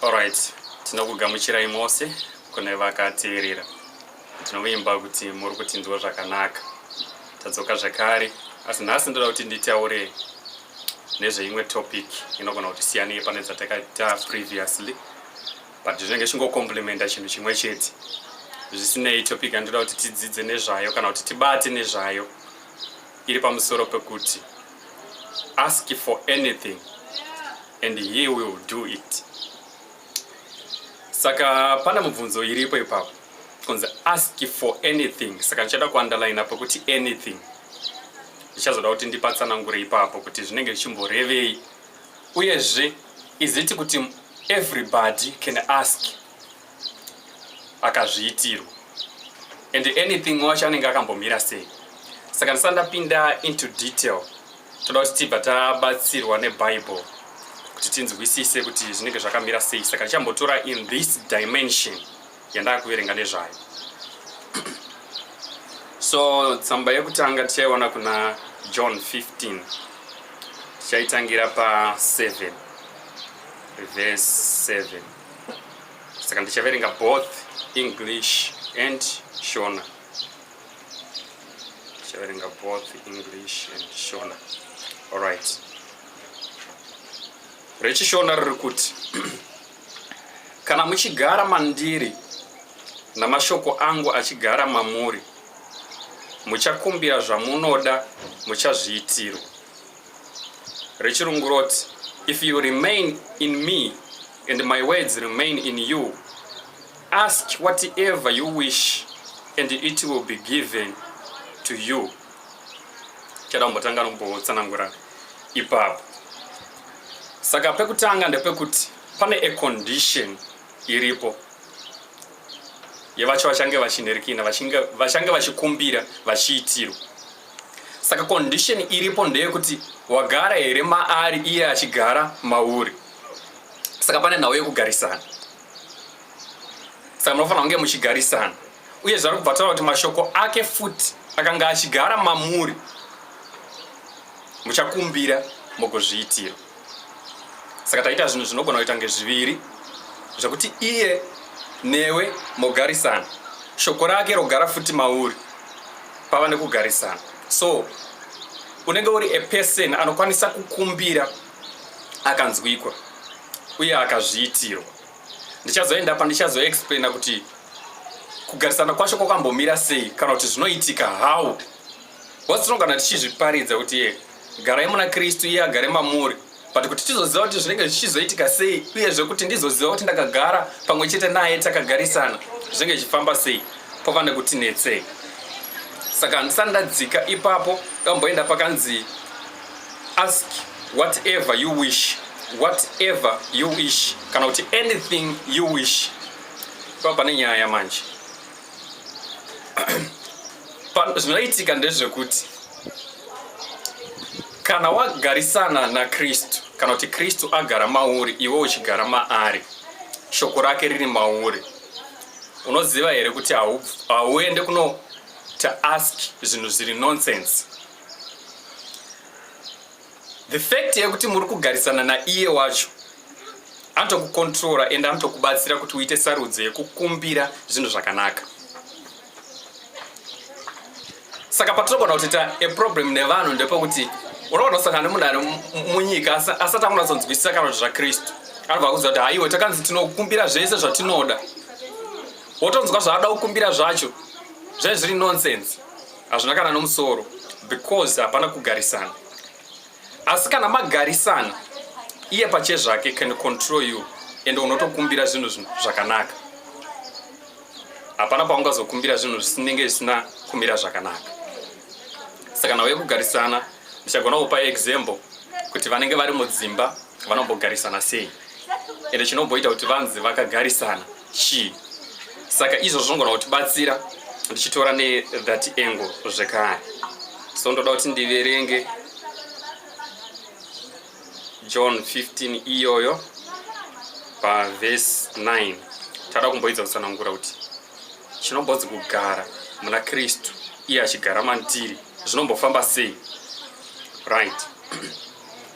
Alright, tinokugamuchirai mose kune vakateerera. Tinovimba kuti muri kutinzwa zvakanaka. Tadzoka zvakare, asi nhasi ndoda kuti nditaure nezveimwe topic inogona kuti siyanei pane dzatakaita previously but zvinenge chingocomplimenta chinhu chimwe chete zvisinei topic yandinoda kuti tidzidze nezvayo kana kuti tibate nezvayo iri pamusoro pekuti ask for anything and he will do it saka pana mubvunzo iripo ipapo kunzi ask for anything saka ndichada kuunderline apo kuti anything ndichazoda kuti ndipatsanangure ipapo kuti zvinenge zvichimborevei uyezve iziti kuti everybody can ask akazviitirwa and anything wacho anenge akambomira sei saka ndisati ndapinda into detail toda kuti tibva tabatsirwa nebible kuti tinzwisise kuti zvinenge zvakamira sei saka ndichambotora in this dimension yandakuverenga nezvayo so tsamba yekutanga tichaiona kuna john 15 tichaitangira pa 7 verse 7 saka ndichaverenga both english and shona ndichaverenga both english and shona alright rechishona riri kuti kana muchigara mandiri namashoko angu achigara mamuri muchakumbira zvamunoda muchazviitirwa rechirungu roti if you remain in me and my words remain in you ask whatever you wish and it will be given to you chada kumbotanga nombotsanangura ipapo saka pekutanga ndepekuti pane a condition iripo yevacho vachange vachinherikina vachange vachikumbira vachiitirwa Saka condition iripo ndeyekuti wagara here maari iye achigara mauri. Saka pane nhau yekugarisana. Saka munofanira kunge muchigarisana. Uye zvari kubva taura kuti mashoko ake futi akanga achigara mamuri muchakumbira mugozviitira. saka taita zvinhu zvinogona kuita kunge zviviri zvekuti iye newe mogarisana shoko rake rogara futi mauri pava nekugarisana so unenge uri a person anokwanisa kukumbira akanzwikwa uye akazviitirwa ndichazoenda pa ndichazoexplaina kuti kugarisana kwacho kwakambomira sei kana kuti zvinoitika how what's wrong kana tichizviparidza kuti ye Garai muna Kristu, iye agare mamuri. But kuti tizoziva kuti zvinenge zvichizoitika sei, uyezve kuti ndizoziva kuti ndakagara pamwe chete naye takagarisana, zvinenge zvichifamba sei, kwava nekuti netsei. Saka handisati ndadzika ipapo, kamboenda pakanzi ask whatever you wish, whatever you wish, kana kuti anything you wish. Pava pane nyaya manje. zvinoitika ndezvekuti kana wagarisana nakristu kana kuti kristu agara mauri iwe uchigara maari shoko rake riri mauri unoziva here kuti hauende kuno to ask zvinhu zviri nonsense The fact yekuti muri kugarisana naiye wacho anotokukontrora ende anotokubatsira kuti uite sarudzo yekukumbira zvinhu zvakanaka saka patinogona kuti ta a problem nevanhu ndepekuti unogona kusangana nemunhu ari munyika asati akunatsonzwisisa kana kuti zvakristu anobva kuziva kuti haiwe takanzi tinokumbira zvese zvatinoda wotonzwa zvaada kukumbira zvacho zvaizviri nonsense hazvina kana nomusoro because hapana kugarisana asi kana magarisana iye pache zvake can control you and unotokumbira zvinhu zvakanaka hapana paungazokumbira zvinhu zvisinenge zvisina kumira zvakanaka saka nauye kugarisana ndichagona kupa example kuti vanenge vari mudzimba vanombogarisana sei ende chinomboita kuti vanzi vakagarisana chii saka izvo zvongona kutibatsira ndichitora nethat angle zvekare so ndoda kuti ndiverenge john 15 iyoyo pavhesi 9 tada kumboidza kutsanangura kuti chinombodzi kugara muna kristu iye achigara mandiri zvinombofamba sei right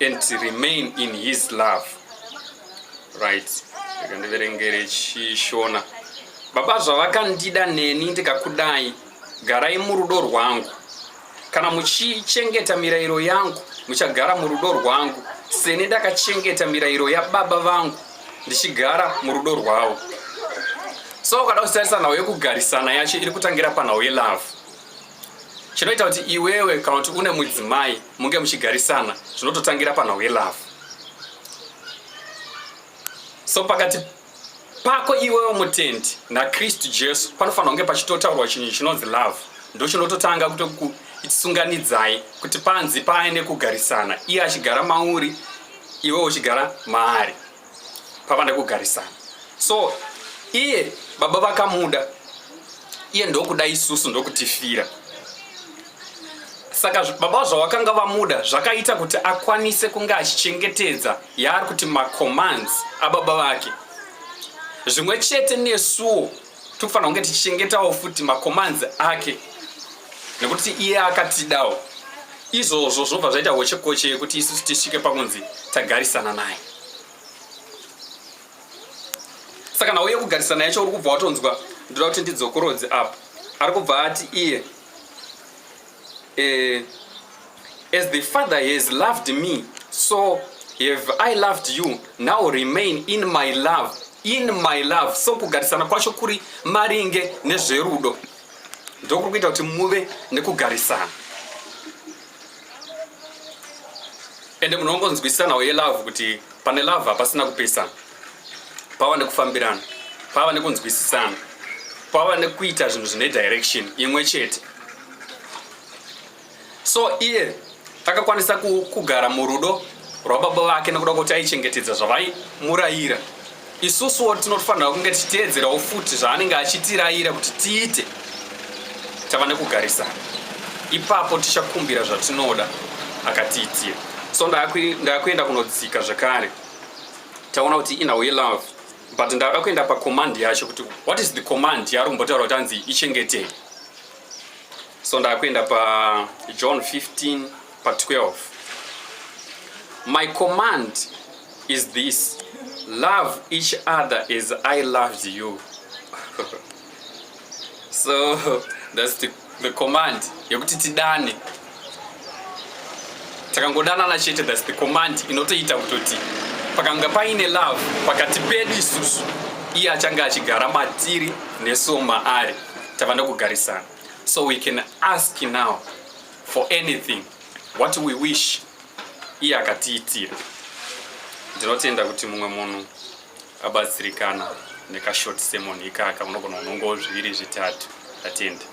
and remain in his love right rega ndiverengere chishona baba zvavakandida neni ndikakudai garai murudo rwangu kana muchichengeta mirayiro yangu muchagara murudo rwangu seni ndakachengeta mirayiro yababa vangu ndichigara murudo rwavo so ukada kusitarisa nhau yekugarisana yacho iri kutangira panhau yelove Chinoita kuti iwewe kana kuti une mudzimai munge muchigarisana zvinototangira panhau yelove. So pakati pako iwewe mutendi naKristu Jesu panofanira kunge pachitotaurwa chinhu chinonzi love. Ndochinototanga kutoku itisunganidzai kuti panzi paine kugarisana iye achigara mauri iwe uchigara maari pava nekugarisana so iye baba vakamuda iye ndokuda isusu ndokutifira saka baba zvavakanga vamuda zvakaita kuti akwanise kunge achichengetedza yaari kuti macommands ababa vake zvimwe chete nesuwo Tikufanira kunge tichichengetawo futi makomanzi ake nekuti iye akatidawo izvozvo zvobva zvaita hochekoche yekuti isusu tisvike pakunzi tagarisana naye saka nhau yekugarisana yacho uri kubva watonzwa ndoda kuti ndidzokorodze apo ari kubva ati iye Eh, as the Father has loved me, so have I loved you. Now remain in my love. In my love. So kugarisana kwacho kuri maringe nezverudo. Ndokuri kuita kuti muve nekugarisana. Ende munongonzwisisanawo yelove kuti pane love hapasina kupesana. pava nekufambirana pava nekunzwisisana pava nekuita zvinhu zvine direction imwe chete so iye akakwanisa kugara murudo rwababa vake nekuda kuti aichengetedza zvavaimurayira isusuwo tinofanira kunge tichiteedzerawo futi zvaanenge achitirayira kuti tiite tava nekugarisana ipapo tichakumbira zvatinoda akatiitira so ndakuenda kunodzika zvekare taona kuti inhau yelove but ndada kuenda pacommand yacho kuti what is the command yaari kumbotaura kuti anzi ichengetei so ndakuenda pajohn 15 pa12 my command is this love each other as i loved you so that's the, the command yekuti tidane takangodanana chete that's the command inotoita kutoti pakanga paine love pakati pedu isusu iye achange achigara matiri neso maari tavanda kugarisana so we can ask now for anything what we wish iye akatiitira ndinotenda kuti mumwe munhu abatsirikana nekashort sermon ikaka unogona kunongawo zviviri zvitatu atende